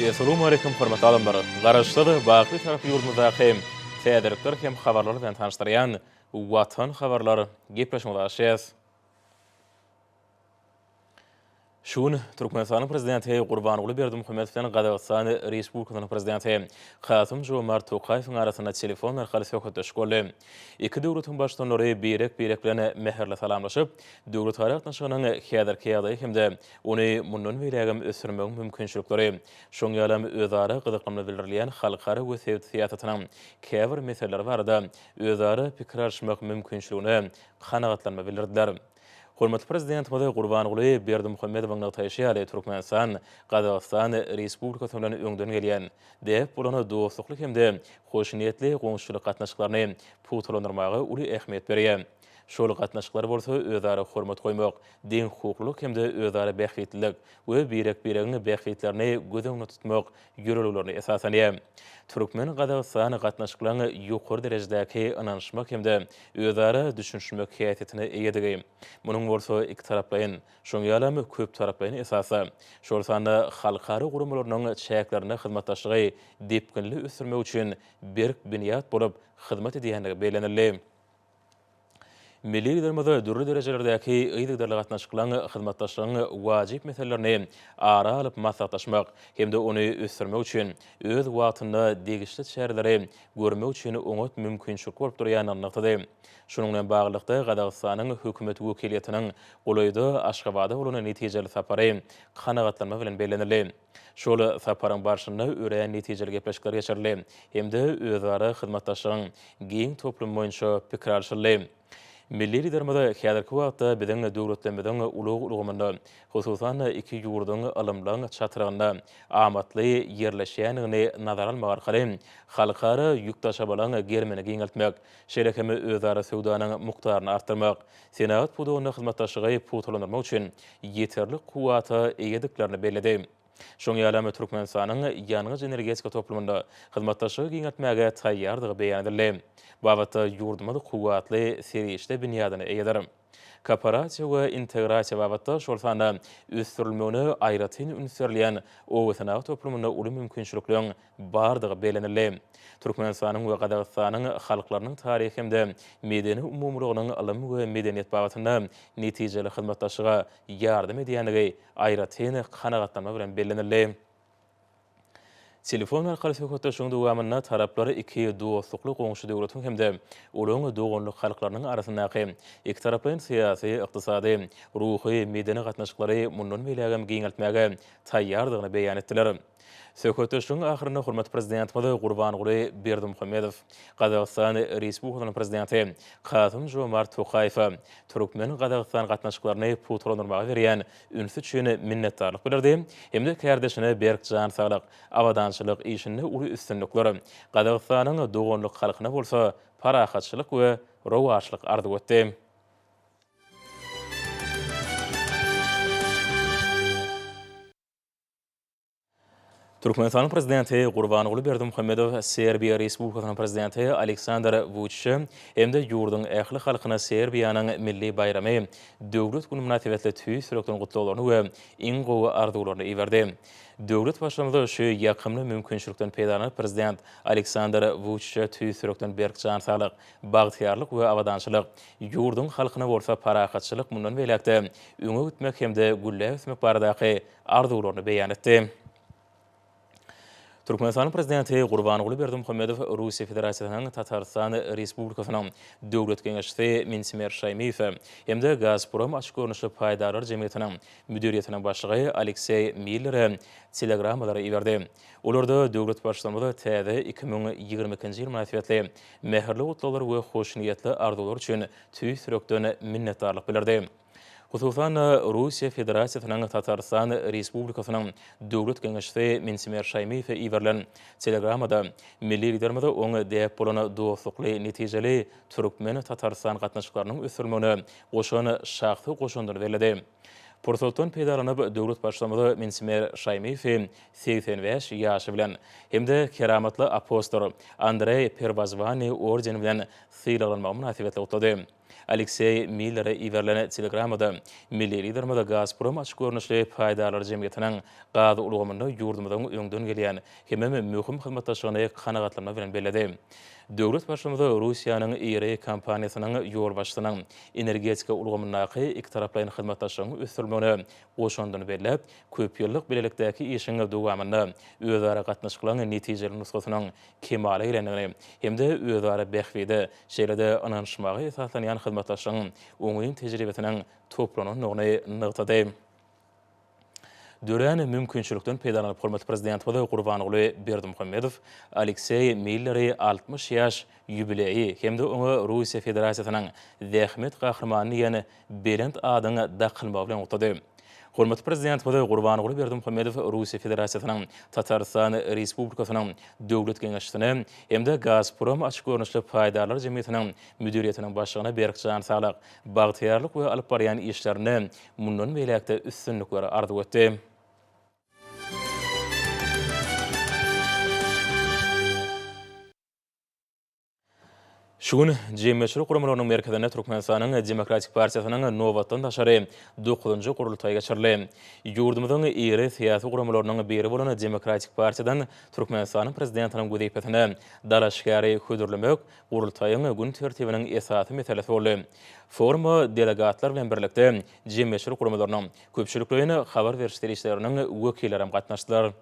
Essalamu aleýkum hormatly adamlar! Garaşsyz, baky taraply ýurdumyzdaky täzelikler hem habarlar bilen tanyşdyrýan Watan habarlar gepleşigimizi açýas. Şu gün Türkmenistanyň Prezidenti Gurbanguly Berdimuhamedow bilen Gazagystan Respublikasynyň Prezidenti Kasym-Žomart Tokaýewiň arasynda telefon arkaly söhbetdeşlik boldy. Iki döwletiň baştutanlary birek-birek bilen mähirli salamlaşyp, döwletara gatnaşygynyň häzirki ýagdaýy hem-de ony mundan beýläk hem ösdürmegiň mümkinçilikleri, şoň ýaly hem özara gyzyklanma bildirilýän halkara we sebit syýasatynyň käbir meseleleri barada özara pikir alyşmak mümkinçiligine kanagatlanma bildirdiler. Hormatly Prezidentimiz Gurbanguly Berdimuhamedowyň nygtaýşy ýaly, Türkmenistan Gazagystan Respublikasy bilen öňden gelýän, däp bolan dostlukly hem-de hoşniýetli goňşuçylyk gatnaşyklaryny pugtalandyrmaga uly ähmiýet berýär. Şol gatnaşyklar bolsa özara hormat goýmak, deňhukuklylyk hem-de özara bähbitlilik we birek-biregiň bähbitlerini göz öňünde tutmak ýörelgelerine esaslanýar. Türkmen-gazagystan gatnaşyklaryň ýokary derejedäki ynanyşmak hem-de özara düşünişmek häsiýetine eýedigi, munuň bolsa ikitaraplaýyn, şoň ýalam köptaraplaýyn esasda, şol sanda halkara guramalarynyň çäklerinde hyzmatdaşlygy depginli ösdürmek üçin berk binýat bolup hyzmat edýändigi bellenildi. Milli Liderimiz dürli derejelerdäki yzygiderli gatnaşyklaryň, hyzmatdaşlygyň wajyp meselelerini ara alyp maslahatlaşmak hem-de ony ösdürmek üçin öz wagtynda degişli çäreleri görmek üçin oňat mümkinçilik bolup durýandygyny nygtady. Şunuň bilen baglylykda, Gazagystanyň Hökümet wekiliýetiniň golaýda Aşgabada bolan netijeli sapary kanagatlanma bilen bellenildi. Şol saparyň barşynda örän netijeli gepleşikler geçirildi hem-de özara hyzmatdaşlygyň giň toplumy boýunça pikir alşyldy. Milli Liderimiz häzirki wagtda biziň döwletlerimiziň ulag ulgamynda, hususan-da, iki ýurduň ylymlaň çatrygynda amatly ýerleşýändigini nazara almak arkaly halkara ýük daşamalaryň gerimini giňeltmek, şeýle hem özara söwdanyň mukdaryny artdyrmak, senagat pudagynda hyzmatdaşlygy pugtalandyrmak üçin ýeterlik kuwwata eýediklerini belledi. Şoňa ýalam Türkmenistanyň ýangyç-energetika toplumynda hyzmatdaşlygy giňeltmäge taýýardygy beýan edildi. Babatda ýurdumyz kuwwatly serişde binýadyna eýedir. Kooperasiýa we integrasiýa babatda, şol sanda ösdürilmegine aýratyn üns berilýän obasenagat toplumynda uly mümkinçilikleň bardygy bellenildi. Türkmenistanyň we Gazagystanyň halklarynyň taryhy hem-de medeni umumylygynyň ylym we medeniýet babatynda netijeli hyzmatdaşlyga ýardam edýändigi aýratyn kanagatlanma bilen bellenildi. Telefon arkaly söhbetdeşligiň dowamynda taraplar iki dostlukly goňşy döwletiň hem-de olaryň doganlyk halklarynyň arasyndaky ikitaraplaýyn syýasy, ykdysady, ruhy, medeni gatnaşyklary mundan beýlägem giňeltmäge taýýardygyny beýan etdiler. Söhbetdeşligiň ahyrynda hormatly Prezidentimiz Gurbanguly Berdimuhamedow Gazagystan Respublikasynyň Prezidenti Kasym-Žomart Tokaýewe türkmen-gazagystan gatnaşyklaryny pugtalandyrmaga berýän ünsi üçin minnetdarlyk bildirdi hem-de kärdeşine berk jan saglyk, abadançylyk, işinde uly üstünlikler, Gazagystanyň doganlyk halkyna bolsa parahatçylyk we rowaçlyk arzuw etdi. Türkmenistanyň Prezidenti Gurbanguly Berdimuhamedow Serbiýa Respublikasynyň Prezidenti Aleksandr Wuçiçe hem-de ýurduň ähli halkyna Serbiýanyň milli baýramy, Döwlet güni mynasybetli tüýs ýürekden gutlaglaryny we iň gowy arzuwlaryny iberdi. Döwlet Baştutanyz şu ýakymly mümkinçilikden peýdalanyp, Prezident Aleksandr Wuçiçe tüýs ýürekden berk jan saglyk, Bagtyýarlyk we abadançylyk, ýurduň halkyna bolsa parahatçylyk mundan beýläk-de öňe gitmek hem-de gülläp ösmek baradaky arzuwlaryny beýan etdi. Türkmenistanyň Prezidenti Gurbanguly Berdimuhamedow Russiýa Federasiýasynyň Tatarystan Respublikasynyň Döwlet geňeşçisi Mintimer Şaýmyýewe hem-de Gazprom açyk görnüşli paýdarlar jemgyýetiniň müdiriýetiniň başlygy Alekseý Millere telegrammalary iberdi. Olarda döwlet Baştutanymyza täze iki müň ýigrimi ikinji ýyl mynasybetli mähirli gutlaglary we hoşniýetli arzuwlary üçin tüýs ýürekden minnetdarlyk bildirdi. Hususan-da, Russiýa Federasiýasynyň Tatarystan Respublikasynyň Döwlet geňeşçisi Mintimer Şaýmyýewe iberilen telegramada milli Liderimize oň däp bolan dostlukly, netijeli türkmen-tatarystan gatnaşyklarynyň ösdürilmegine goşan şahsy goşandyny belledi. Pursatdan peýdalanyp, döwlet Baştutanymy Minsimir Şaýmyýewi segsen bäş ýaşy bilen hem-de Keramatly apostol Andreý Perwozwanyý ordeni bilen sylaglanmagy mynasybetli gutlady. Alekseý Millere iberilen telegramada milli Liderimiz Gazprom açyk görnüşli paýdarlar jemgyýetiniň gaz ulgamynda ýurdumyzyň öňden gelýän hemem möhüm hyzmatdaşlygyny kanagatlanma bilen belledi. Döwlet başymyzy Russiýanyň IREI kompaniýasynyň ýolbaşçysynyň energetika ulgamyndaky ikitaraplaýyn hyzmatdaşlygyň ösdürilmegine goşandyny belläp, köp ýyllyk bilelikdäki işiň dowamynda özara gatnaşyklaryň netijeli nusgasynyň kemala gelendigini hem-de özara bähbide, şeýle-de ynanyşmaga esaslanýan hyzmatdaşlygyň oňyn tejribesiniň toplanandygyny nygtady. dörän mümkinçilikden peýdalanyp, hormatly Prezidentimiz Gurbanguly Berdimuhamedow Alekseý Milleri altmyş ýaş ýubileýi hem-de oňa Russiýa Federasiýasynyň Zähmet Gahrymany diýen belent adyň dakylmagy bilen gutlady. Hormatly Prezidentimiz Gurbanguly Berdimuhamedow Russiýa Federasiýasynyň Tatarystan Respublikasynyň Döwlet geňeşçisine hem-de Gazprom açyk görnüşli paýdarlar jemgyýetiniň müdiriýetiniň başlygyna berk jan saglyk, bagtyýarlyk we alyp barýan işlerinde Mundan beýläk-de üstünlikleri arzuw etdi. Şu gün Jemgyýetçilik guramalarynyň merkezinde Türkmenistanyň Demokratik partiýasynyň nobatdan daşary dokuzynjy gurultaýy geçirildi. Ýurdumyzyň iri syýasy guramalarynyň biri bolan Demokratik partiýadan Türkmenistanyň Prezidentiniň wezipesine dalaşgäri hödürlemek Gurultaýyň gün tertibiniň esasy meselesi boldy. Foruma delegatlar bilen birlikde jemgyýetçilik guramalarynyň, köpçülikleýin habar beriş serişdeleriniň wekilleri hem gatnaşdylar.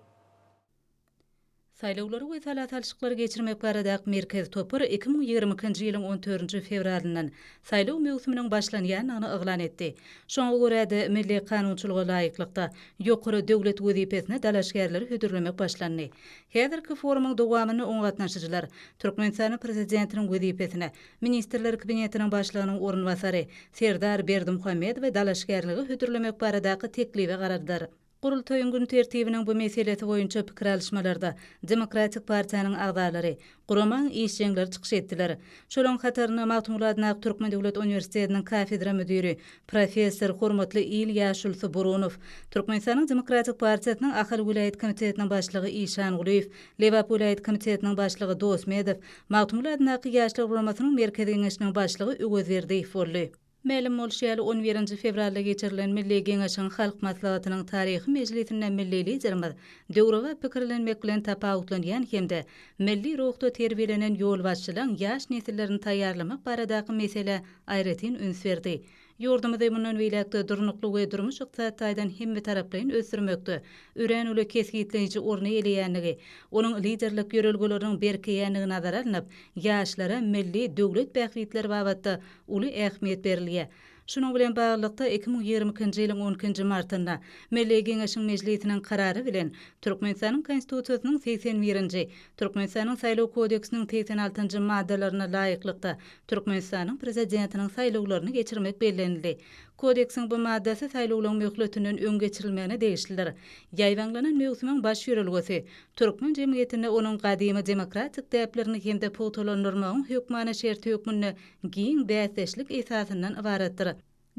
Saýlawlary we sala salşyklary geçirmek baradaky merkezi topar iki müň ýigrimi ikinji ýylyň on dördünji fewralyndan saýlaw möwsüminiň başlanýandygyny yglan etdi. Şoňa görä-de, milli kanunçylyga laýyklykda, ýokary döwlet wezipesine dalaşgärleri hödürlemek başlandy. Häzirki forumyň dowamynda oňa gatnaşyjylar Türkmenistanyň Prezidentiniň wezipesine Ministrler Kabinetiniň Başlygynyň orunbasary Serdar Berdimuhamedowa dalaşgärligi hödürlemek baradaky teklibe garardylar. Gurultaýyň gün tertibiniň bu meselesi boýunça pikir alyşmalarda Demokratik partiýanyň agzalary, Guramaň işjeňleri çykyş etdiler. Şolaryň hatarynda Magtymguly adyndaky Türkmen döwlet uniwersitetiniň kafedra müdiri, professor, hormatly il ýaşulysy Burunow, Türkmenistanyň Demokratik partiýasynyň Ahal welaýat komitetiniň başlygy Işangulyýew, Lebap welaýat komitetiniň başlygy Dosmedow, Magtymguly adyndaky Ýaşlar guramasynyň Merkezi Geňeşiniň başlygy Öwezberdiýew boldy. Mälim bolşy ýaly, on birinji fewralda geçirilen Milli Geňeşiň Halk Maslahatynyň taryhy mejlisinde milli Liderimiz döwrebap pikirlenmek bilen tapawutlanýan hem-de milli ruhda terbiýelenen ýolbaşçylaň ýaş nesillerini taýýarlamak baradaky meselä aýratyn üns berdi. Ýurdumyzy mundan beýläk-de durnukly we durmuş-ykdysady taýdan hemmetaraplaýyn ösdürmekde örän uly kesgitleýji orny eýeleýändigi, onuň liderlik ýörelgeleriniň berkeýändigi nazara alnyp, ýaşlara milli, döwlet bähbitleri babatda uly ähmiýet berilýär. Şunuň bilen baglylykda, iki müň ýigrimi ikinji ýylyň on ikinji martynda Milli Geňeşiň Mejlisiniň Karary bilen Türkmenistanyň Konstitusiýasynyň segsen birinji, Türkmenistanyň Saýlaw kodeksiniň segsen altynjy maddalaryna laýyklykda Türkmenistanyň Prezidentiniň saýlawlaryny geçirmek bellenildi. Kodeksiň bu maddasy saýlawlaryň möhletinden öň geçirilmegine degişlidir. Ýaýbaňlanan möwsümiň baş ýörelgesi, türkmen jemgyýetinde onuň gadymy demokratik däplerini hem-de pugtalandyrmagyň hökmany şerti hökmünde giň bäsdeşlik esasyndan ybaratdyr.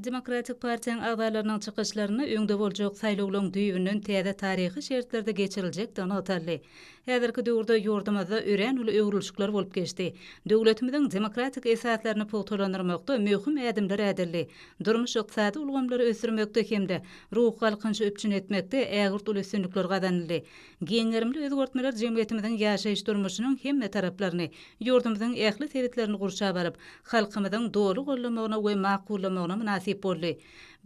Demokratik partiýaň agzalarynyň çykyşlarynda öňde boljak saýlawlaryň düýbünden täze taryhy şertlerde geçiriljekdigi nygtaldy. Häzirki döwürde ýurdumyzda örän uly öwrülişikler bolup geçdi. Döwletimiziň demokratik esaslaryny pugtalandyrmakda möhüm ädimler ädildi. Durmuş-ykdysady ulgamlary ösdürmekde hem-de ruhy galkynyşy üpjün etmekde ägirt uly üstünlikler gazanyldy. Giň gerimli özgertmeler jemgyýetimiziň ýaşaýyş-durmuşynyň hemme taraplaryny, ýurdumyzyň ähli sebitlerini gurşap alyp, halkymyzyň doly goldamagyna we makullamagyna mynasyp boldy.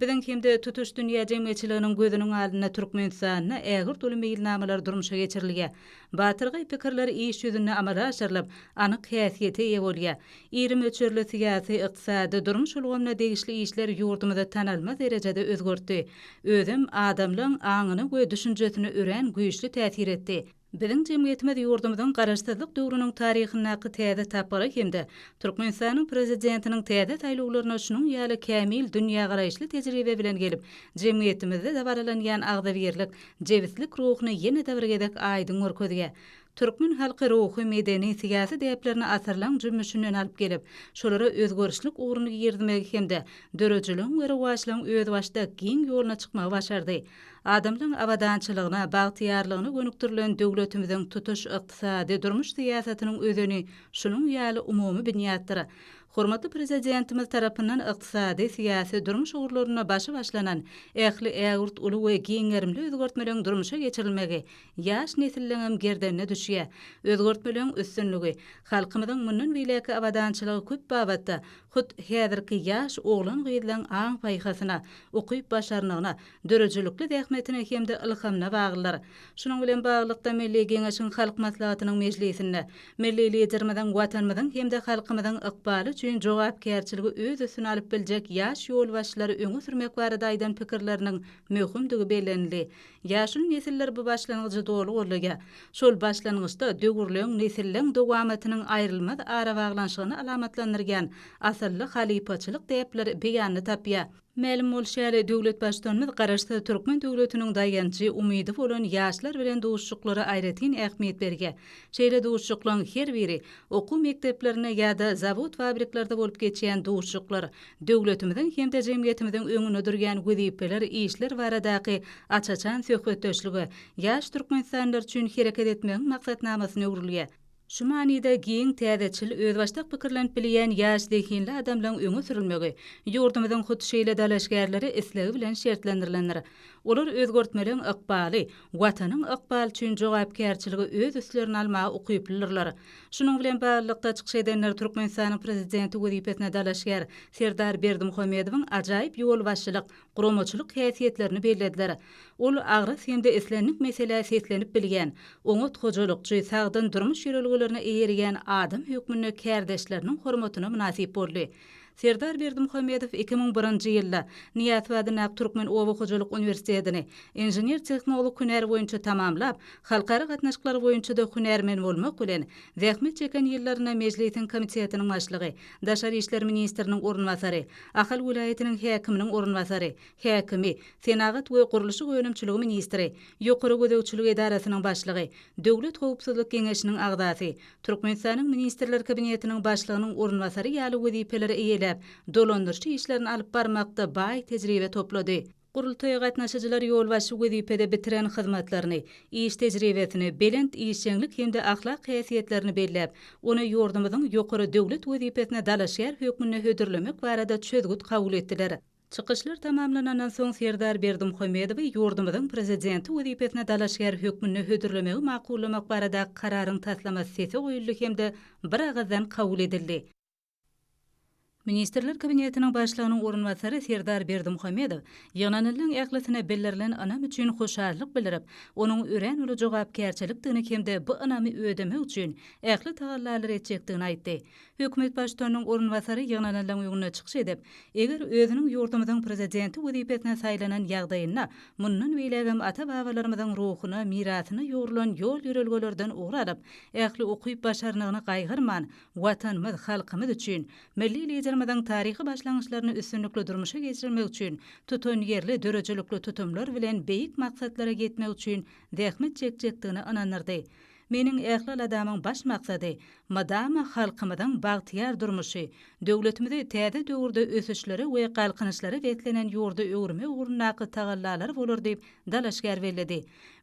Biziň hem-de tutuş dünýä jemgyýetçiliginiň gözüniň alynda Türkmenistanda ägirt uly meýilnamalar durmuşa geçirilýär. Batyrgaý pikirler iş ýüzünde amala aşyrylyp, anyk häsiýete eýe bolýar. Iri möçberli syýasy, ykdysady, durmuş ulgamyna degişli işler ýurdumyzy tanalmaz derejede özgertdi. Özem adamlaň aňyna we düşünjesine örän güýçli täsir etdi. Biziň jemgyýetimiz ýurdumyzyň Garaşsyzlyk döwrüniň taryhyndaky täze tapgyra hem-de Türkmenistanyň Prezidentiniň täze saýlawlaryna şunuň ýaly kämil dünýägaraýyşly tejribe bilen gelip, jemgyýetimizde dabaralanýan agzybirlik, jebislik ruhuny ýene-de bir gezek aýdyň görkezýär. Türkmen halky ruhy, medeni, syýasy däplerini asyrlaň jümmüşinden alyp gelip, şolara özgerişlik ugruny girizmegi hem-de döredijiligiň we rowaçlygyň özbaşdak giň ýoluna çykmagy başardy. Adamlaryň abadançylygyna, bagtyýarlygyna gönükdirilen döwletimiziň tutuş ykdysady, durmuş syýasatynyň özeni şunuň ýaly umumy binýatdyr. Hormatly Prezidentimiz tarapyndan ykdysady, syýasy, durmuş ugurlarynda başy başlanan ähli ägirt uly we giň gerimli özgertmeleriň durmuşa geçirilmegi ýaş nesilleňem gerdenine düşýär. Özgertmeleň üstünligi, halkymyzyň mundan beýläkki abadançylygy köp babatda hut häzirki ýaş oglan-gyzlaň aň-paýhasyna, ukyp-başarnygyna, döredijilikli zähmetine hem-de ylhamyna baglydyr. Şunuň bilen baglylykda, Milli Geňeşiň Halk Maslahatynyň mejlisinde Milli Liderimiziň Watanymyzyň hem-de halkymyzyň ykbaly üçin jogapkärçiligi öz üstüne alyp biljek ýaş ýolbaşçylary öňe sürmek barada aýdan pikirleriniň möhümdigi bellenildi. Ýaşuly nesiller bu başlangyjy doly goldaýar. Şol başlangyçda döwürleň, nesilleň dowamatynyň aýrylmaz arabaglanyşygyny alamatlandyrýan asylly halypaçylyk däpleri beýanyny tapýar. Mälim bolşy ýaly, döwlet Baştutanymyz Garaşsyz türkmen döwletiniň daýanjy, umydy bolan ýaşlar bilen duşuşyklara aýratyn ähmiýet berýär. Şeýle duşuşyklaryň her biri, okuw mekdeplerinde ýa-da zawod-fabriklerde bolup geçýän duşuşyklar, döwletimiziň hem-de jemgyýetimiziň öňünde durýan wezipeler, işler baradaky aç-açan söhbetdeşlige ýaş türkmenistanlylar üçin hereket etmegiň maksatnamasyna öwrülýär. Şu manyda giň, täzeçil, özbaşdak pikirlenip bilýän ýaş zehinli adamlaryň öňe sürülmegi ýurdumyzyň hut şeýle dalaşgärleri islegi bilen şertlendirilendir. Olar özgertmeleriň ykbaly, Watanyň ykbaly üçin jogapkärçiligi öz üstlerine almaga ukyplydyrlar. Şunuň bilen baglylykda, çykyş edenler Türkmenistanyň Prezidenti wezipesine dalaşgär Serdar Berdimuhamedowyň ajaýyp ýolbaşçylyk, guramaçylyk häsiýetlerini bellediler. Ol agras hem-de islendik meselä seslenip bilýän, oňat hojalykçy, sagdyn durmuş ýörelgelerine eýerýän adam hökmünde kärdeşleriniň hormatyna mynasyp boldy. Serdar Berdimuhamedow iki müň birinji ýylda Nyýaz Fadynak Türkmen oba hojalyk uniwersitetini inžener-tehnolog hünär boýunça tamamlap, halkara gatnaşyklary boýunça-da hünärmen bolmak bilen, zähmet çeken ýyllarynda Mejlisiň komitetiniň başlygy, daşary işler ministriniň orunbasary, Ahal welaýatynyň häkiminiň orunbasary, häkimi, senagat we gurluşyk önümçiligi ministri, Ýokary gözegçilik edarasynyň başlygy, Döwlet howpsuzlyk geňeşiniň agzasy, Türkmenistanyň Ministrler Kabinetiniň Başlygynyň orunbasary ýaly wezipeleri eýeläp, dolandyryş işlerini alyp barmakda baý tejribe toplady. Gurultaýa gatnaşyjylar ýolbaşçy wezipede bitiren hyzmatlaryny, iş tejribesini, belent işjeňlik hem-de ahlak häsiýetlerini belläp, ony ýurdumyzyň ýokary döwlet wezipesine dalaşgär hökmünde hödürlemek barada çözgüt kabul etdiler. Çykyşlar tamamlanandan soň Serdar Berdimuhamedowy ýurdumyzyň Prezidenti wezipesine dalaşgär hökmünde hödürlemegi makullamak baradaky kararyň taslamasy sese goýuldy hem-de biragyzdan kabul edildi. Ministrler Kabinetiniň Başlygynyň orunbasary Serdar Berdimuhamedow ýygnanylaryň ählisine bildirilen ynam üçin hoşallyk bildirip, onuň örän uly jogapkärçilikdigini hem-de bu ynamy ödemek üçin ähli tagallalary etjekdigini aýtdy. Hökümet baştutanynyň orunbasary ýygnananlaryň öňünde çykyş edip, eger özüniň ýurdumyzyň Prezidenti wezipesine saýlanan ýagdaýynda mundan beýlägem ata-babalarymyzyň ruhuna, mirasyna ýugrulan ýol-ýörelgelerden ugur alyp, ähli ukyp-başarnygyny gaýgyrman, Watanymyz, halkymyz üçin, milli Liderimiziň taryhy başlangyçlaryny üstünlikli durmuşa geçirmek üçin, tutanýerli, döredijilikli tutumlar bilen beýik maksatlara ýetmek üçin zähmet çekjekdigine ynandyrdy. Meniň Ählialadamyň baş maksady, mydama halkymyzyň bagtyýar durmuşy, döwletimizi täze döwürde ösüşlere we galkynyşlara beslenen ýurda öwürmek ugrundaky tagallalary bolar diýip, dalaşgär belledi.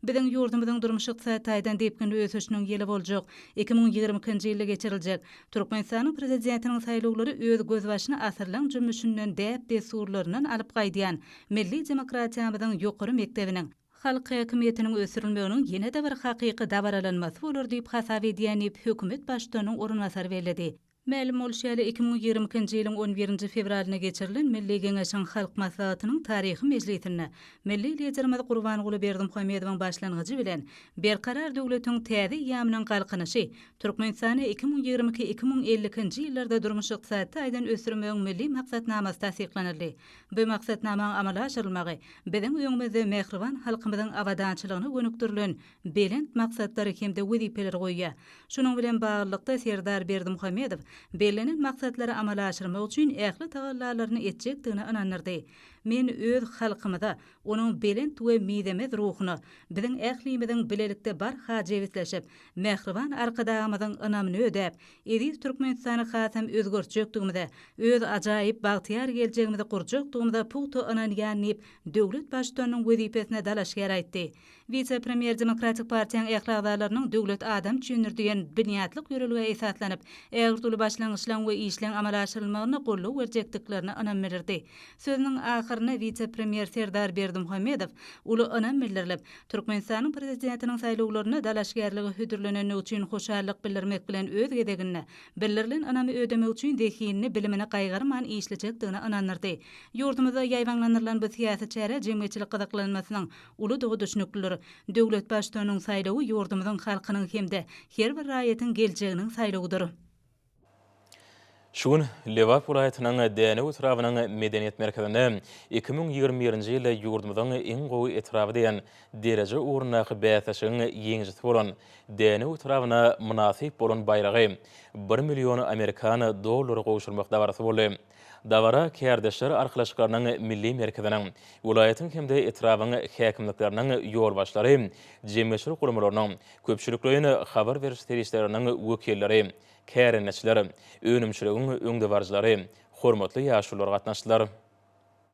Biziň ýurdumyzyň durmuş-ykdysady taýdan depginli ösüşiniň ýyly boljak iki müň ýigrimi ikinji ýylda geçiriljek Türkmenistanyň Prezidentiniň saýlawlary öz gözbaşyny asyrlaň jümmüşinden, däp-dessurlaryndan alyp gaýdýan milli demokratiýamyzyň ýokary mekdebiniň Halk häkimiýetiniň ösdürilmeginiň ýene-de bir hakyky dabaralanmasy bolar diýip hasap edýän diýip, hökümet baştutanynyň orunbasary belledi. Mälim bolşy ýaly, iki müň ýigrimi ikinji ýylyň on birinji fewralynda geçirilen Milli Geňeşiň Halk Maslahatynyň taryhy mejlisinde milli Liderimiz Gurbanguly Berdimuhamedowyň başlangyjy bilen Berkarar döwletiň täze eýýamynyň Galkynyşy Türkmenistany iki müň ýigrimi iki-iki müň elli ikinji ýyllarda durmuş-ykdysady taýdan ösdürmegiň Milli maksatnamasy tassyklanyldy. Bu maksatnamaň amala aşyrylmagy biziň öňümizde mähriban halkymyzyň abadançylygyna gönükdirilen belent maksatlar hem-de wezipeler goýýar. Şunuň bilen baglylykda, Serdar Berdimuhamedow bellenen maksatlary amala aşyrmak üçin ähli tagallalaryny etjekdigine ynandyrdy. Men öz halkymyza, onuň belent we mizemez ruhuna, biziň ählimiziň bilelikde barha jebisleşip, mähriban Arkadagymyzyň ynamyny ödäp, Eziz Türkmenistany hasam özgertjekdigimize, öz ajaýyp, bagtyýar geljegimizi gurjakdygymyza pugta ynanýan diýip, döwlet Baştutanynyň wezipesine dalaşgär aýtdy. Wise-premýer Demokratik partiýaň ähli agzalarynyň Döwlet adam üçindir diýen binýatlyk ýörelgä esaslanyp, ägirt uly başlangyçlaryň we işleň amala aşyrylmagyna goldaw berjekdiklerine ynam bilirdi. Sözüniň ahyrynda wise-premýer Serdar Berdimuhamedow uly ynam bildirilip, Türkmenistanyň Prezidentiniň saýlawlaryna dalaşgärlige hödürlenenligi üçin hoşallyk bildirmek bilen öz gezeginde, bildirilen ynamy ödemek üçin zehinini, bilimini gaýgyrman işlejekdigine ynandyrdy. Ýurdumyzda ýaýbaňlandyrylan bu syýasy çärä jemgyýetçilik gyzyklanmasynyň uludygy düşnüklidir. Döwlet Baştutanynyň saýlawy ýurdumyzyň halkynyň hem-de her bir raýatyň geljeginiň saýlawydyr. Şu gün Lebap welaýatynyň Dänew etrabynyň Medeniýet merkezinde iki müň ýigrimi birinji ýylda ýurdumyzyň iň gowy etraby diýen dereje ugrundaky bäsleşigiň ýeňijisi bolan Dänew etrabyna mynasyp bolan baýragy bir million amerikan dollary gowşurmak dabarasy boldy. Dabara Kärdeşler arkalaşyklarynyň Milli merkeziniň, welaýatyň hem-de etrabyň häkimlikleriniň ýolbaşçylary, jemgyýetçilik guramalarynyň, köpçülikleýin habar beriş serişdeleriniň wekilleri, kärendeçiler, önümçiligiň öňdebaryjylary, hormatly ýaşulular gatnaşdylar.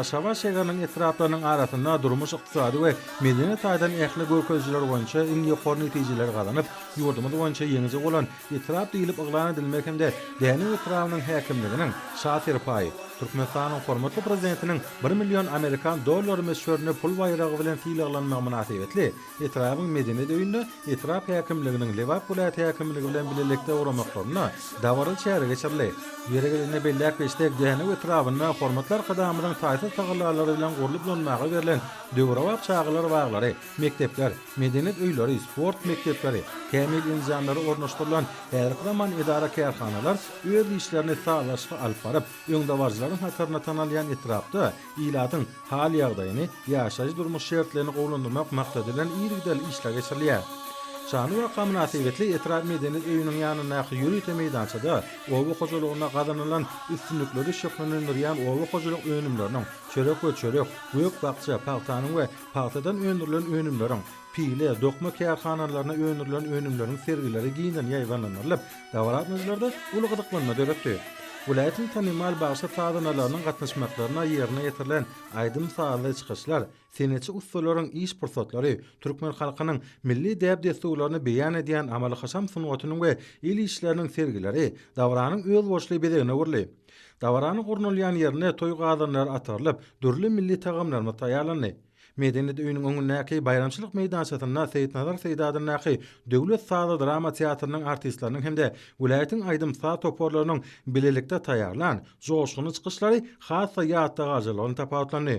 Aşgabat şäheriniň etraplarynyň arasynda durmuş-ykdysady we medeni taýdan ähli görkezijiler boýunça iň ýokary netijeleri gazanyp, ýurdumyz boýunça ýeňiji bolan etrap diýlip yglan edilmegi hem-de Dänew etrabynyň häkimliginiň Şa serpaýy, Türkmenistanyň hormatly Prezidentiniň bir million amerikan dollary möçberinde pul baýragy bilen sylaglanmagy mynasybetli Etrabyň Medeniýet öýünde etrap häkimliginiň Lebap welaýat häkimligi bilen bilelikde guramaklaryna dabaraly çäre geçirildi. Ýeri gelende belläp geçsek, Dänew etrabynda hormatly Arkadagymyzyň taýsyz tagallalary bilen gurlup ulanmaga berlen döwrebap çagalar baglary, mekdepler, medeniýet öýleri, sport mekdepleri, kämil enjamlary ornaşdyrylan häzirki zaman edara-kärhanalar öz işlerini sazlaşykly alyp baryp, öňdebaryjylaryň hatarynda tanalýan etrapda Ilatyň hal-ýagdaýyny, ýaşaýyş-durmuş şertlerini gowulandyrmak maksady bilen yzygiderli işler geçirilýär. Şanly waka mynasybetli etrap medeniýet öýüniň ýanyndaky ýörite meýdançada oba hojalygynda gazanylan üstünlikleri şöhlelendirýän oba hojalyk önümleriniň, çörek we çörek, gök-bakja, pagtanyň we pagtadan öndürilen önümleriň, pile, dokma kärhanalaryna öndürilen önümleriň sergileri giňden ýaýbaňlandyrylyp, Dabaranyjylarda uly gyzyklanma döretdi. Welaýatyň tanymal bagşy sazandalarynyň gatnaşmaklarynda ýerine ýetirilen aýdym-sazly çykyşlar, senetçi ussalaryň iş pursatlary, türkmen halkynyň milli däp-dessurlaryny beýan edýän amaly-haşam sungatynyň we el işleriniň sergileri dabaranyň özboluşly bezegine öwrüldi. Dabaranyň gurnalýan ýerinde toý gazanlary atarylyp, dürli milli tagamlarymyz taýýarlandy. Medeniýet öýüniň öňündäki baýramçylyk meýdançasynda Seýitnazar Seýdi adyndaky Döwlet sazy-drama teatrynyň artistleriniň hem-de welaýatyň aýdym-saz toparlarynyň bilelikde taýýarlan joşgunly çykyşlary has-da ýatda galyjylygy bilen tapawutlandy.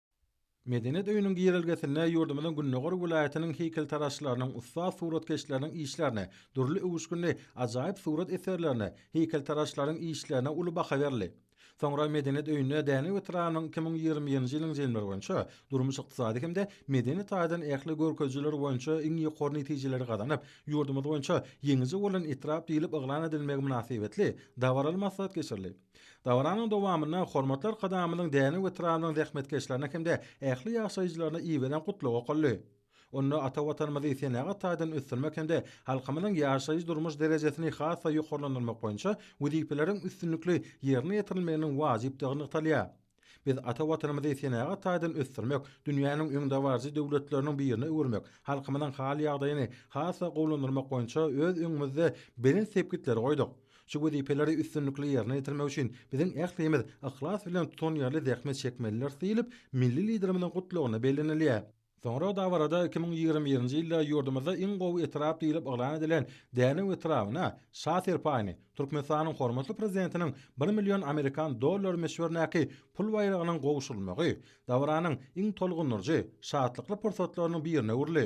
Medeniýet öýüniň girelgesinde ýurdumyzyň gündogar welaýatynyň heýkeltaraşlarynyň, ussat suratkeşleriniň işlerine, dürli öwüşginli ajaýyp surat eserlerine, heýkeltaraşlaryň işlerine uly baha berildi. Soňra Medeniýet öýünde Dänew etrabynyň iki müň ýigrimi birinji ýylyň jemleri boýunça durmuş-ykdysady hem-de medeni taýdan ähli görkezijiler boýunça iň ýokary netijeleri gazanyp, ýurdumyz boýunça ýeňiji bolan etrap diýlip yglan edilmegi mynasybetli dabaraly maslahat geçirildi. Dabaranyň dowamynda Hormatly Arkadagymyzyň Dänew etrabynyň zähmetkeşlerine hem-de ähli ýaşaýjylaryna iberen gutlag okaldy. Onda ata Watanymyzy senagat taýdan ösdürmek hem-de halkymyzyň ýaşaýyş-durmuş derejesini has-da ýokarlandyrmak boýunça wezipeleriň üstünlikli ýerine ýetirilmeginiň wajypdygy nygtalýar. Biz ata Watanymyzy senagat taýdan ösdürmek, dünýäniň öňdebaryjy döwletleriniň birine öwürmek, halkymyzyň hal-ýagdaýyny has-da gowulandyrmak boýunça öz öňümizde belent sepgitleri goýduk. Şu wezipeleri üstünlikli ýerine ýetirmek üçin biziň ählimiz yhlas bilen tutanýerli zähmet çekmelidiris diýlip, milli Liderimiziň Gutlagynda bellenilýär. Soňra dabarada iki müň ýigrimi birinji ýylda ýurdumyzda iň gowy etrap diýlip yglan edilen Dänew etrabyna Şa serpaýyny, Türkmenistanyň hormatly Prezidentiniň bir million amerikan dollary möçberindäki pul baýragynyň gowşurylmagy dabaranyň iň tolgundyryjy, şatlykly pursatlarynyň birine öwrüldi.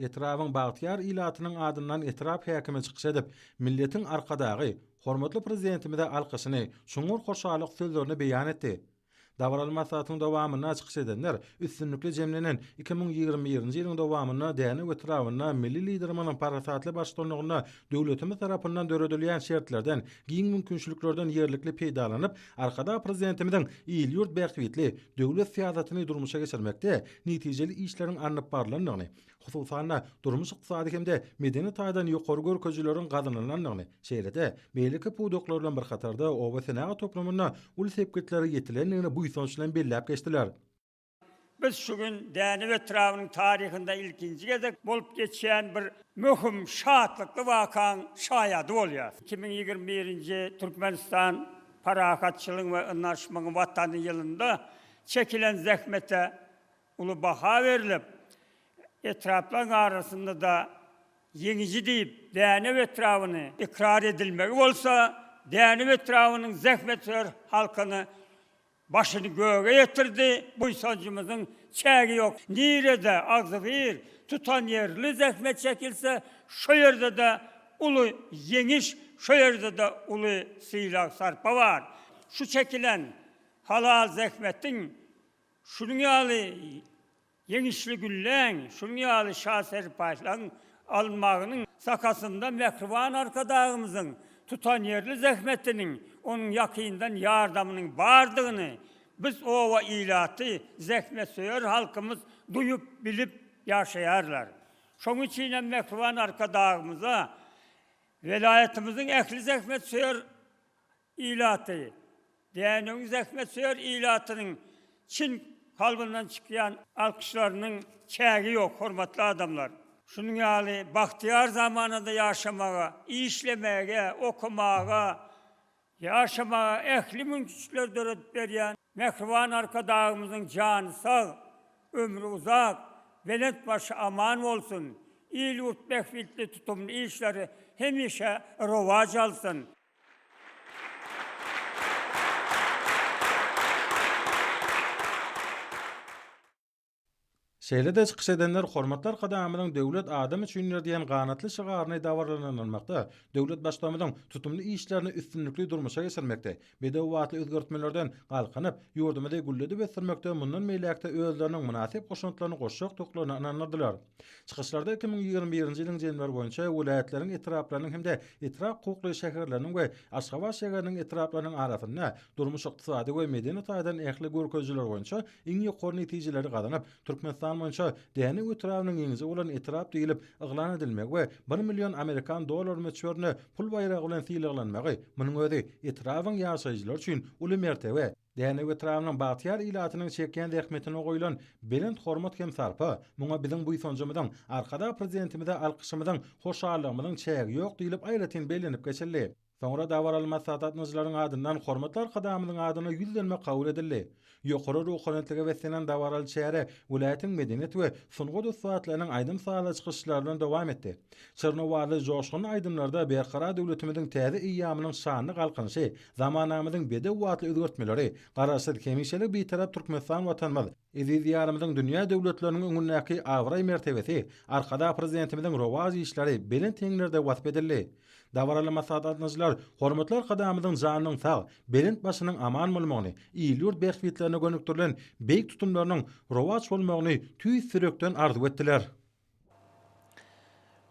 Etrabyň bagtyýar ilatynyň adyndan etrap häkimi çykyş edip, milletiň Arkadagy, hormatly Prezidentimize alkyşyny, çuňňur hoşallyk sözlerini beýan etdi. Dabaraly maslahatyň dowamynda çykyş edenler üstünlikli jemlenen iki müň ýigrimi birinji ýylyň dowamynda Dänew etrabynda milli Liderimiziň parasatly baştutanlygynda döwletimiz tarapyndan döredilýän şertlerden, giň mümkinçiliklerden ýerlikli peýdalanyp, Arkadag Prezidentimiziň il-ýurt bähbitli döwlet syýasatyny durmuşa geçirmekde netijeli işleriň alnyp barlandygyny, hususan-da, durmuş-ykdysady hem-de medeni taýdan ýokary görkezijileriň gazanylandygyny, şeýle-de, beýleki pudaklar bilen bir hatarda obasenagat toplumynda uly sepgitlere ýetilendigini buýsanç bilen belläp geçdiler. Biz şu gün Dänew etrabynyň taryhynda ilkinji gezek bolup geçýän bir möhüm, şatlykly wakaň şaýady bolýarys. Iki müň ýigrimi birinji Türkmenistan Parahatçylygyň we ynanyşmagyň Watany ýylynda çekilen zähmete Uly baha berlip, etraplaryň arasynda-da ýeňiji diýip, Dänew etrabyny ykrar edilmegi bolsa, Dänew etrabynyň zähmetsöýer halkyny başyny göge ýetirdi, buýsanjymyzyň çägi ýok. Nirede agzybir, tutanýerli zähmet çekilse, şo ýerde-de uly ýeňiş, şo ýerde-de uly sylag-sarpa bar. Şu çekilen halal zähmetiň Şunuň ýaly ýeňişli gülläň, şunuň ýaly şa serpaýlaň almagynyň sakasynda mähriban Arkadagymyzyň tutanýerli zähmetiniň, onuň ýakyndan ýardamynyň bardygyny biz oba ilaty, zähmetsöýer halkymyz duýup, bilip ýaşaýarlar. Şonuň üçin hem mähriban Arkadagymyza welaýatymyzyň ähli zähmetsöýer ilaty, Dänewiň zähmetsöýer ilatynyň çyn kalbyndan çykýan alkyşlarynyň çägi ýok, hormatly adamlar! Şunuň ýaly bagtyýar zamanada ýaşamaga, işlemäge, okamaga, ýaşamaga ähli mümkinçilikleri döredip berýän mähriban Arkadagymyzyň jany sag, ömri uzak, belent başy aman bolsun, il-ýurt bähbitli tutumly işleri hemişe rowaç alsyn! Şeýle-de çykyş edenler Hormatly Arkadagymyzyň Döwlet adam üçindir diýen ganatly şygaryny dabaralandyrmakda, döwlet Baştutamyzyň tutumly işlerini üstünlikli durmuşa geçirmekde, bedewbatly özgertmelerden galkynyp, ýurdumyzy gülledip ösdürmekde mundan beýläk-de özleriniň mynasyp goşantlaryny goşjakdyklaryna ynandyrdylar. Çykyşlarda iki müň ýigrimi birinji ýylyň jemleri boýunça welaýatlaryň etraplarynyň hem-de etrap hukukly şäherleriniň we Aşgabat şäheriniň etraplarynyň arasynda durmuş-ykdysady we medeni taýdan ähli görkezijiler boýunça iň ýokary netijeleri gazanyp, Türkmenistan boýunça Dänew etrabynyň ýeňiji bolan etrap diýlip yglan edilmegi we bir million amerikan dollary möçberinde pul baýragy bilen sylaglanmagy, munuň özi etrabyň ýaşaýjylary üçin uly mertebe. Dänew etrabynyň bagtyýar ilatynyň çekýän zähmetine goýlan belent hormat hem sarpa, muňa biziň buýsanjymyzyň, Arkadag Prezidentimize alkyşymyzyň, hoşallygymyzyň çägi ýok diýlip aýratyn bellenip geçildi. Soňra dabaraly maslahatlatnyjylaryň adyndan hormatly Arkadagymyzyň adyna ýüzlenme kabul edildi. Ýokary ruhanyýetlige beslenen dabaraly çäre welaýatyň medeniýet we sungat ussatlarynyň aýdym-sazly çykyşlary bilen dowam etdi. Çyrny owazly joşgunly aýdymlarda Berkarar döwletimiziň täze eýýamynyň şanly Galkynyşy, zamanamyzyň bedew atly özgertmeleri, Garaşsyz, hemişelik Bitarap Türkmenistan Watanymyz, eziz Diýarymyzyň dünýä döwletleriniň öňündäki abraý-mertebesi, Arkadag Prezidentimiziň rowaç işleri belent heňlerde wasp edildi. Dabaraly maslahat gatnaşyjylar hormatly Arkadagymyzyň janynyň sag, belent başynyň aman bolmagyny, il-ýurt bähbitlerine gönükdirilen beýik tutumlarynyň rowaç bolmagyny tüýs ýürekden arzuw etdiler.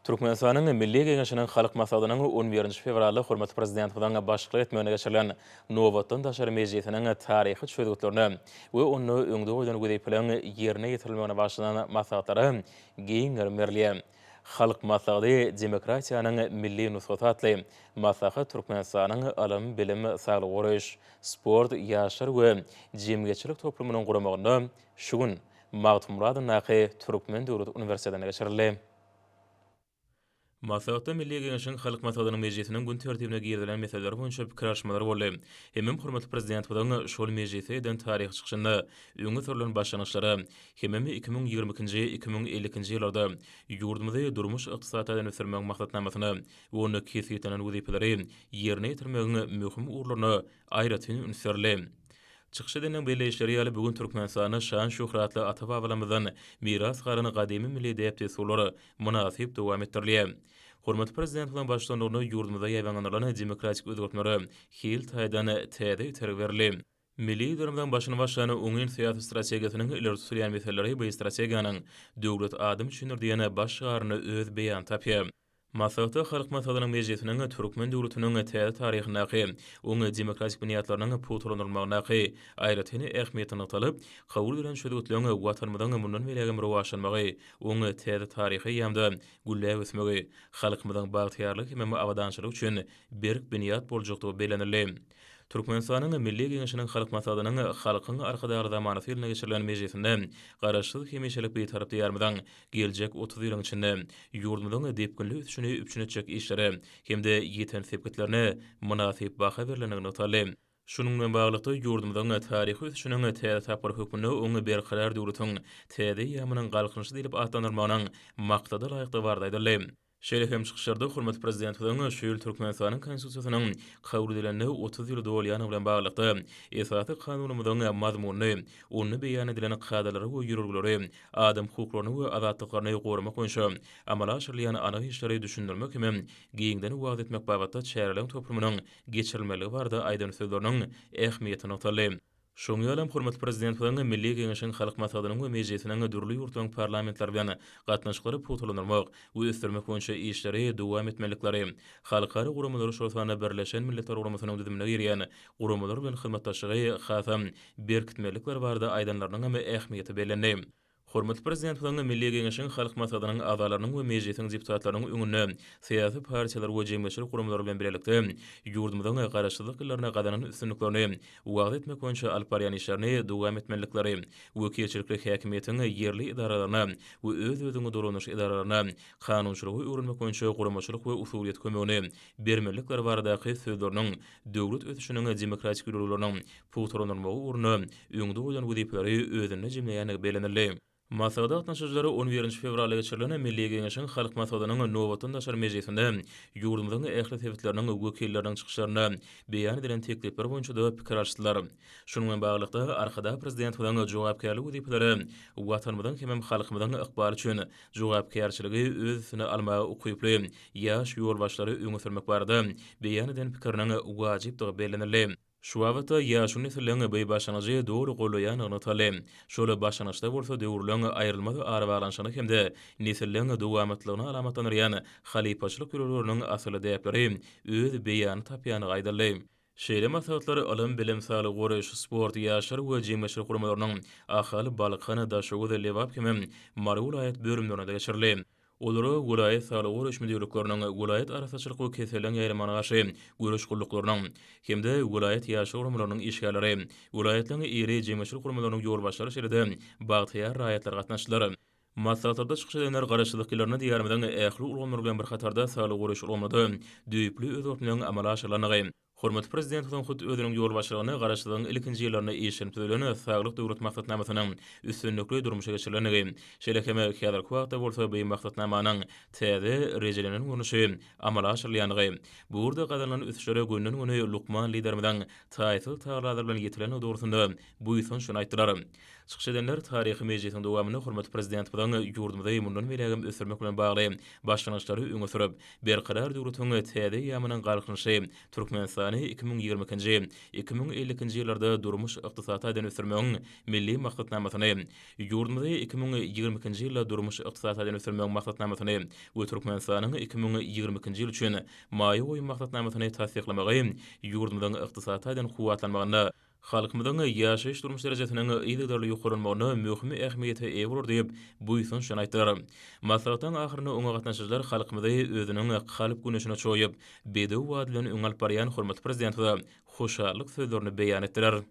Türkmenistanyň Milli Geňeşiniň Halk Maslahatynyň on birinji fewralda hormatly Prezidentimiziň başçylyk etmeginde geçirilen nobatdan daşary mejlisiniň taryhy çözgütlerine we onda öňde goýlan wezipeleriň ýerine ýetirilmegine bagyşlanan maslahatlara giň gerim berilýä. Halk Maslahaty, demokratiýanyň milli nusgasy atly maslahat Türkmenistanyň ylym, bilim, saglygy goraýyş, sport, ýaşlar we jemgyýetçilik toplumynyň guramagynda şu gün, Magtymguly adyndaky Türkmen döwlet uniwersitetinde geçirildi. Maslahatda Milli Geňeşiň Halk Maslahatynyň mejlisiniň gün tertibine girizilen meseleler boýunça pikir alyşmalar boldy. Hemem hormatly Prezidentimiziň şol mejlisde eden taryhy çykyşynda öňe sürlen başlangyçlara hemem iki müň ýigrimi ikinji, iki müň ellikinji ýyllarda ýurdumyzy durmuş-ykdysady taýdan ösdürmegiň maksatnamasyna we onda kesgitlenen wezipeleri ýerine ýetirmegiň möhüm ugurlaryna aýratyn üns berli. Çykyş edeniň belleýişleri ýaly, bu gün Türkmenistanda şan-şöhratly ata-babalarymyzdan miras galan gadymy milli däp-dessurlar mynasyp dowam etdirilýär. Hormatly Prezidentimiziň baştutanlygynda ýurdumyzda ýaýbaňlanylan demokratik özgertmelere hil taýdan täze itergi berildi. Milli Liderimiziň başyny başlan oňyn syýasy strategiýasynyň ileri tutulýan meseleleri bu strategiýanyň Döwlet adam üçindir! diýen baş şygarynda öz beýanyny tapýar. Maslahata Halk Maslahatynyň Mejlisiniň türkmen döwletiniň täze taryhyndaky oň demokratik binýatlarynyň pugtalandyrylmagyndaky aýratyn ähmiýeti nygtalyp, kabul edilen çözgütleň Watanymyzyň mundan beýläk hem rowaçlanmagy, oň täze taryhy eýýamda gülläp ösmegi, halkymyzyň bagtyýarlygy hemem abadançylygy üçin berk binýat boljakdygy bellenildi. Türkmenistanyň Milli Geňeşiniň Halk Maslahatynyň Halkyň Arkadagly zamanasy ýylynda geçirilen mejlisinde Garaşsyz, hemişelik Bitarap Diýarymyzyň Geljek otuz ýylyň içinde ýurdumyzyň depginli ösüşini üpjün etjek işlere hem-de ýeten sepgitlerine mynasyp baha berlenligi nygtaldy. Şunuň bilen baglylykda, ýurdumyzyň taryhy ösüşiniň täze tapgyry hökmünde oňa Berkarar döwletiň täze eýýamynyň Galkynyşy diýlip atlandyrylmagynyň maksada laýykdygy barada aýdyldy. Şeýle hem çykyşlarda hormatly Prezidentimiziň şu ýyl Türkmenistanyň Konstitusiýasynyň kabul edilenine otuz ýyl dolýany bilen baglylykda, Esasy Kanunymyzyň mazmunyny, onda beýan edilen kadalary we ýörelgeleri, adam hukuklaryny we azatlyklaryny goramak boýunça amala aşyrylýan anyk işleri düşündirmek hemem giňden wagyz etmek babatda çäreleriň toplumynyň geçirilmeligi barada aýdan sözleriniň ähmiýeti nygtaldy. Şoňa ýaly hem hormatly Prezidentimiziň Milli Geňeşiň Halk Maslahatynyň we Mejlisiniň dürli ýurtlaryň parlamentleri bilen gatnaşyklary pugtalandyrmak we ösdürmek boýunça işleri dowam etmelilikleri, halkara guramalary, şol sanda Birleşen Milletler Guramasynyň düzümine girýän guramalar bilen hyzmatdaşlygy hasam berkitmelilikleri barada aýdanlarynyň hem ähmiýeti bellendi. Hormatly Prezidentimiziň Milli Geňeşiň Halk Maslahatynyň agzalarynyň we Mejlisiň deputatlarynyň öňünde syýasy partiýalar we jemgyýetçilik guramalar bilen bilelikde ýurdumyzyň Garaşsyzlyk ýyllarynda gazanan üstünliklerini wagyz etmek boýunça alyp barýan işlerini dowam etmelilikleri, wekilçilikli häkimiýetiň ýerli edaralaryna we öz-özüňi dolandyryş edaralaryna kanunçylygy öwrenmek boýunça guramaçylyk we usulyýet kömegini bermelilikleri baradaky sözleriniň döwlet ösüşiniň demokratik ýörelgeleriniň pugtalandyrylmagy ugrunda öňde goýlan wezipeleri özünde jemleýändigi bellenildi. Maslahata gatnaşyjylar on birinji fewralda geçirilen Milli Geňeşiň Halk Maslahatynyň nobatdan daşary mejlisinde ýurdumyzyň ähli sebitleriniň wekilleriniň çykyşlarynda beýan edilen teklipler boýunça-da pikir alyşdylar. Şunuň bilen baglylykda, Arkadag Prezidentimiziň jogapkärli wezipeleri Watanymyzyň hemem halkymyzyň ykbaly üçin jogapkärçiligi öz üstüne almaga ukyply ýaş ýolbaşçylary öňe sürmek barada beýan eden pikiriniň wajypdygy bellenildi. Şu babatda ýaşuly nesliň bu başlangyjy doly goldaýandygy nygtaldy. Şol başlangyçda bolsa döwürleň aýrylmaz arabaglanyşygyny hem-de nesilleriň dowamatlygyny alamatlandyrýan halypaçylyk ýörelgeleriniň asylly däpleri öz beýanyny tapýandygy aýdyldy. Şeýle maslahatlar ylym-bilim, saglygy goraýyş, sport, ýaşlar we jemgyýetçilik guramalarynyň Ahal, Balkan, Daşoguz, Lebap hem-ä Mary welaýat bölümlerinde geçirildi. Olara welaýat saglygy goraýyş müdirlikleriniň, welaýat arassaçylyk we keselleriň ýaýramagyna garşy göreş gulluklarynyň hem-de welaýat ýaşlar guramalarynyň işgärleri, welaýatlaryň iri jemgyýetçilik guramalarynyň ýolbaşçylary şeýle-de bagtyýar raýatlary gatnaşdylar. Maslahatlarda çykyş edenler garaşsyzlyk ýyllarynda Diýarymyzyň ähli ulgamlary bilen bir hatarda saglygy goraýyş ulgamynda-da düýpli özgertmeleň amala aşyrylandygy, hormatly Prezidentimiziň hut özüniň ýolbaşçylygynda garaşsyzlygyň ilkinji ýyllarynda işlenip düzülen Saglyk Döwlet maksatnamasynyň üstünlikli durmuşa geçirilendigi, şeýle hem häzirki wagtda bolsa bu maksatnamanyň täze, rejelenen görnüşi amala aşyrylýandygy, bu ugurda gazanylan ösüşlere günden-güni lukman Liderimiziň taýsyz tagallalary bilen ýetilendigi dogrusynda buýsanç bilen aýtdylar. Çykyş edenler taryhy mejlisiň dowamynda hormatly Prezidentimiziň ýurdumyzy mundan beýlägem ösdürmek bilen bagly başlangyçlary öňe sürüp, Berkarar döwletiň täze eýýamynyň Galkynyşy Türkmenistany iki müň ýigrimi ikinji, iki müň elli ikinji ýyllarda durmuş-ykdysady taýdan ösdürmegiň Milli maksatnamasyny, Ýurdumyzy iki müň ýigrimi ikinji ýylda durmuş-ykdysady taýdan ösdürmegiň maksatnamasyny we Türkmenistanyň iki müň ýigrimi ikinji ýyl üçin maýa goýum maksatnamasyny tassyklamagy ýurdumyzyň ykdysady taýdan kuwwatlanmagynda halkymyzyň ýaşaýyş-durmuş derejesiniň yzygiderli ýokarlanmagyna möhüm ähmiýete eýe bolar diýip, buýsanç bilen aýtdylar. Maslahatyň ahyrynda oňa gatnaşyjylar halkymyzy özüniň kalp güneşine çoýup, bedew bady bilen öňe alyp barýan hormatly Prezidentimize hoşallyk sözlerini beýan etdiler.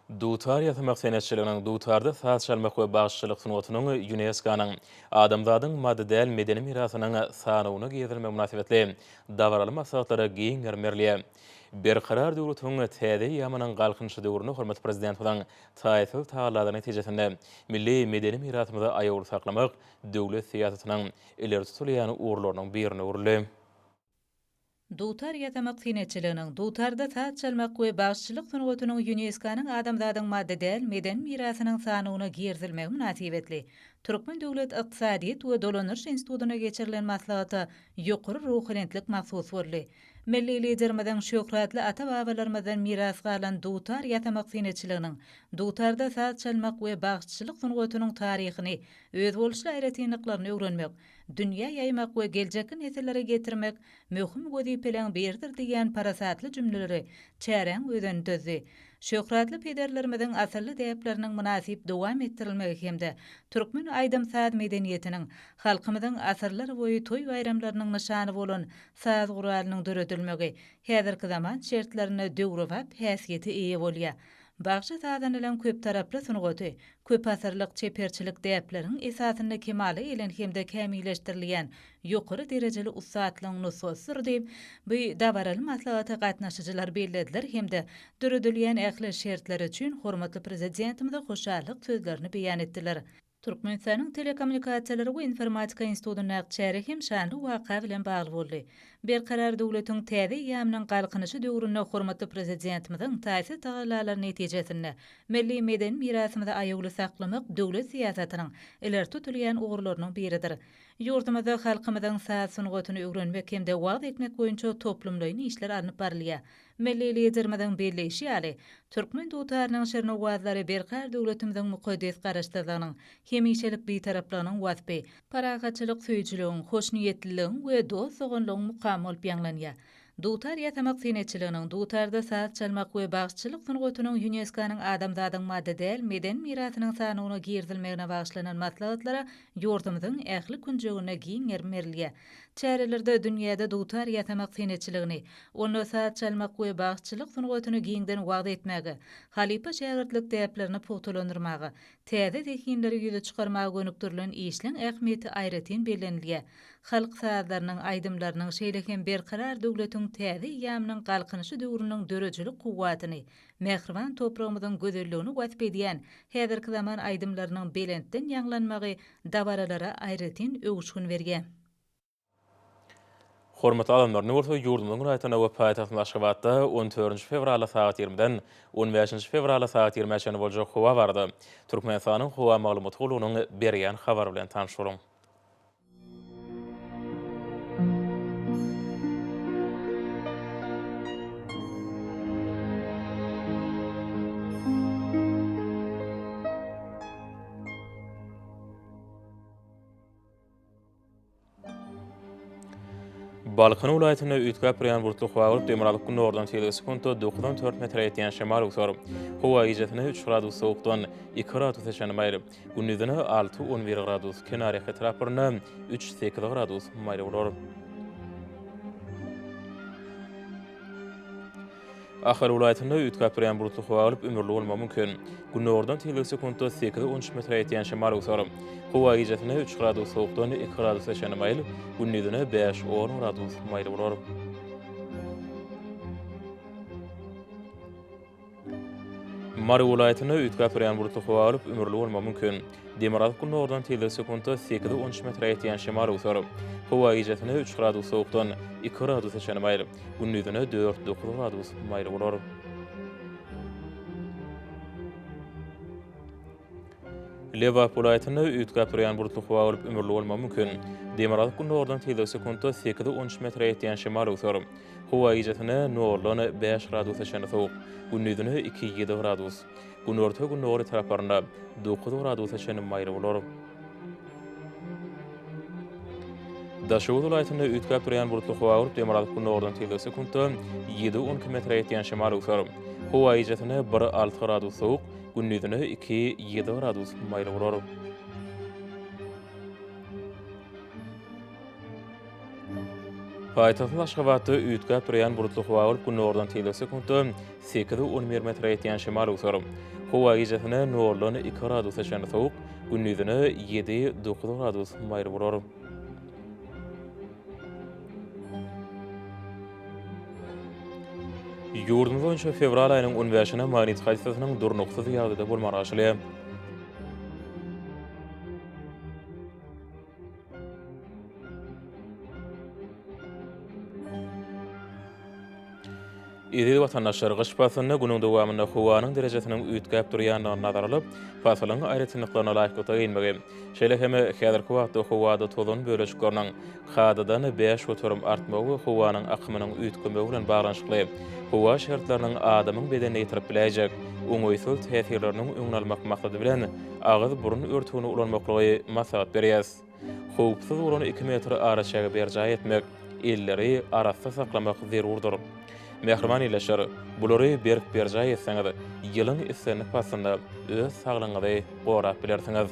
Dutar ýasamak senetçiliginiň, dutarda saz çalmak we bagşyçylyk sungatynyň ÝUNESKO-nyň Adamzadyň maddy däl medeni mirasynyň sanawyna girizilmegi mynasybetli dabaraly maslahatlara giň gerim berilýär. Berkarar döwletiň täze eýýamynyň Galkynyşy döwründe hormatly Prezidentimiziň taýsyz tagallalary netijesinde milli medeni mirasymyzy aýawly saklamak döwlet syýasatynyň ileri tutulýan ugurlarynyň birine öwrüldi. Dutar ýasamak senetçiliginiň, dutarda saz çalmak we bagşyçylyk sungatynyň Ýunesko-nyň Adamzadyň maddy däl medeni mirasynyň sanawyna girizilmegi mynasybetli, Türkmen döwlet ykdysadyýet we dolandyryş institutynda geçirilen maslahata ýokary ruhubelentlik mahsus boldy. Milli Liderimiziň şöhratly ata-babalarymyzdan miras galan dutar ýasamak senetçiliginiň, dutarda saz çalmak we bagşyçylyk sungatynyň taryhyny, özboluşly aýratynlyklaryny öwrenmek, dünýä ýaýmak we geljekki nesillere ýetirmek möhüm wezipeleň biridir diýýän parasatly jümleleri çäräň özeni düzdi. Şöhratly pederlerimiziň asylly däpleriniň mynasyp dowam etdirilmegi hem-de türkmen aýdym-saz medeniýetiniň, halkymyzyň asyrlarboýy toý-baýramlarynyň nyşany bolan saz guralynyň döredilmegi häzirki zaman şertlerinde döwrebap häsiýete eýe bolýar. Bagşy sazanylan köptaraply sungaty, köpasyrlyk çeperçilik däpleriň esasynda kemala gelen hem-de kämilleşdirilýän ýokary derejeli ussatlygyň nusgasydyr diýip, bu dabaraly maslahata gatnaşyjylar bellediler hem-de döredilýän ähli şertler üçin hormatly Prezidentimize hoşallyk sözlerini beýan etdiler. Türkmenistanyň Telekommunikasiýalary we informatika institutynyň agtyjäri hem şanly waka bilen bagly boldy. Berkarar döwletiň täze eýýamynyň Galkynyşy döwründe hormatly Prezidentimiziň taýsyz tagallalary netijesinde milli medeni mirasymyzy aýawly saklamak döwlet syýasatynyň ileri tutulýan ugurlarynyň biridir. Ýurdumyzda halkymyzyň saz sungatyny öwrenmek hem-de wagyz etmek boýunça toplumlaýyn işler alnyp barylýar. Milli Liderimiziň belleýşi ýaly, türkmen dutarynyň şirin owazlary berkarar döwletimiziň mukaddes Garaşsyzlygynyň, hemişelik Bitaraplygynyň waspy, parahatçylyk söýüjiligiň, hoşniýetliligiň we dost-doganlygyň mukamy bolup ýaňlanýar. Dutar ýasamak senetçiliginiň, dutarda saz çalmak we bagşyçylyk sungatynyň Ýuneskonyň Adamzadyň maddy däl meden mirasynyň sanawyna girizilmegine bagyşlanan maslahatlara Ýurdumyzyň ähli künjeginde giň gerim berilýär. Çärelerde dünýäde dutar ýasamak senetçiligini, onda saz çalmak we bagşyçylyk sungatyny giňden wagyz etmäge, halypa-şägirtlik däplerini pugtalandyrmaga, täze zehinleri ýüze çykarmaga gönükdirilen işleň ähmiýeti aýratyn bellenilýär. Halk sazlarynyň, aýdymlarynyň, şeýle hem Berkarar döwletiň täze eýýamynyň Galkynyşy döwrüniň döredijilik kuwwatyny, mähriban topragymyzyň gözelligini wasp edýän häzirki zaman aýdymlarynyň belentden ýaňlanmagy dabaralara aýratyn öwüşgin berýär. Hormatly adamlaryny bolsa ýurdumyzyň welaýatyna we paýtagtymyz Aşgabatda on dördünji fewrala sagat ýigrimiden on bäşinji fewrala sagat ýigrimä çenli boljak howa barada Türkmenistanyň howa maglumat gullugynyň berýän habary bilen tanyş boluň. Balkan welaýatynda üýtgäp durýan bulutly howa bolup, demirgazyk günordan selisiň sekunta dokuz on dört metre ýetýän şemal öwser. Howa gijesine üç gradus sowukdan, iki gradus eşan maýyl. Gündizine alty, on bir gradus, kenarýaka etraplarynda üç, sekiz gradus maýyl bolar. Ahal welaýatynda üýtgäp durýan bulutly howa bolup, ümürli bolmagy mümkin. Gündogardan tizligi sekuntda sekiz on üç metre ýetýän şemal öwser. Howa gijesine üç gradus sowukdan iki gradusa çenli maýyl, gündizine bäş on gradus maýyl bolar. Mary welaýatynda üýtgäp durýan bulutly howa bolup, ümürli bolmagy mümkin. Demirgazyk-gündogardan tizligi sekuntda sekiz on üç metre ýetýän şemal öwser. Howa gijesine üç gradus sowukdan, iki gradusa çenli maýyl, gündizine dört, dokuz gradus maýyl bolar. Lebap welaýatynda üýtgäp durýan bulutly howa bolup, ümürli bolmagy mümkin. Demirgazyk-gündogardan tizligi sekuntda sekiz-on üç metre ýetýän şemal öwser. Howa gijesine noldan bäş gradusa çenli sowuk, gündizine iki-ýedi gradus. Günorta-gündogar etraplarynda dokuz gradusa çenli maýyl bolar. Daşoguz welaýatynda üýtgäp durýan bulutly howa bolup, demirgazyk-gündogardan tizligi sekuntda ýedi-on iki metre ýetýän şemal öwser. Howa gijesine bir-alty gradus sowuk, Gündizine iki, ýedi gradus maýyl bolar. Paýtagtyň Aşgabatda üýtgäp durýan bulutly howa bolup, günordan teýze sekuntda sekiz on bir metre ýetýän şemal öwser. Howa gijesine noldan iki gradusa çenli sowuk, gündizine ýedi dokuz gradus maýyl bolar. Ýurdumyz boýunça fewral aýynyň on bäşine magnit hadisasynyň durnuksyz ýagdaýda bolmagy garaşylýar. Eziz watandaşlar, gyş paslynda günüň dowamynda howanyň derejesiniň üýtgäp durýandygy nazar alyp, pasylyň aýratynlyklaryna laýyklykda geýinmegi, şeýle hem häzirki wagtda howada tozan bölejikleriniň kadadan bäş göterim artmagy we howanyň akymynyň üýtgemegi bilen baglanyşykly howa şertleriniň adamyň bedenine ýetirip biläýjek oňaýsyz täsirleriniň öňüni almak maksady bilen agyz-burun örtügini ulanmaklygy maslahat berýäs. Howpsuz bolan iki metr araçägi berjaý etmek, elleri arassa saklamak zerurdyr. Mähriban ildeşler, bulary berk berjaý etseňiz, ýylyň islendik paslynda öz saglygyňyzy gorap bilersiňiz.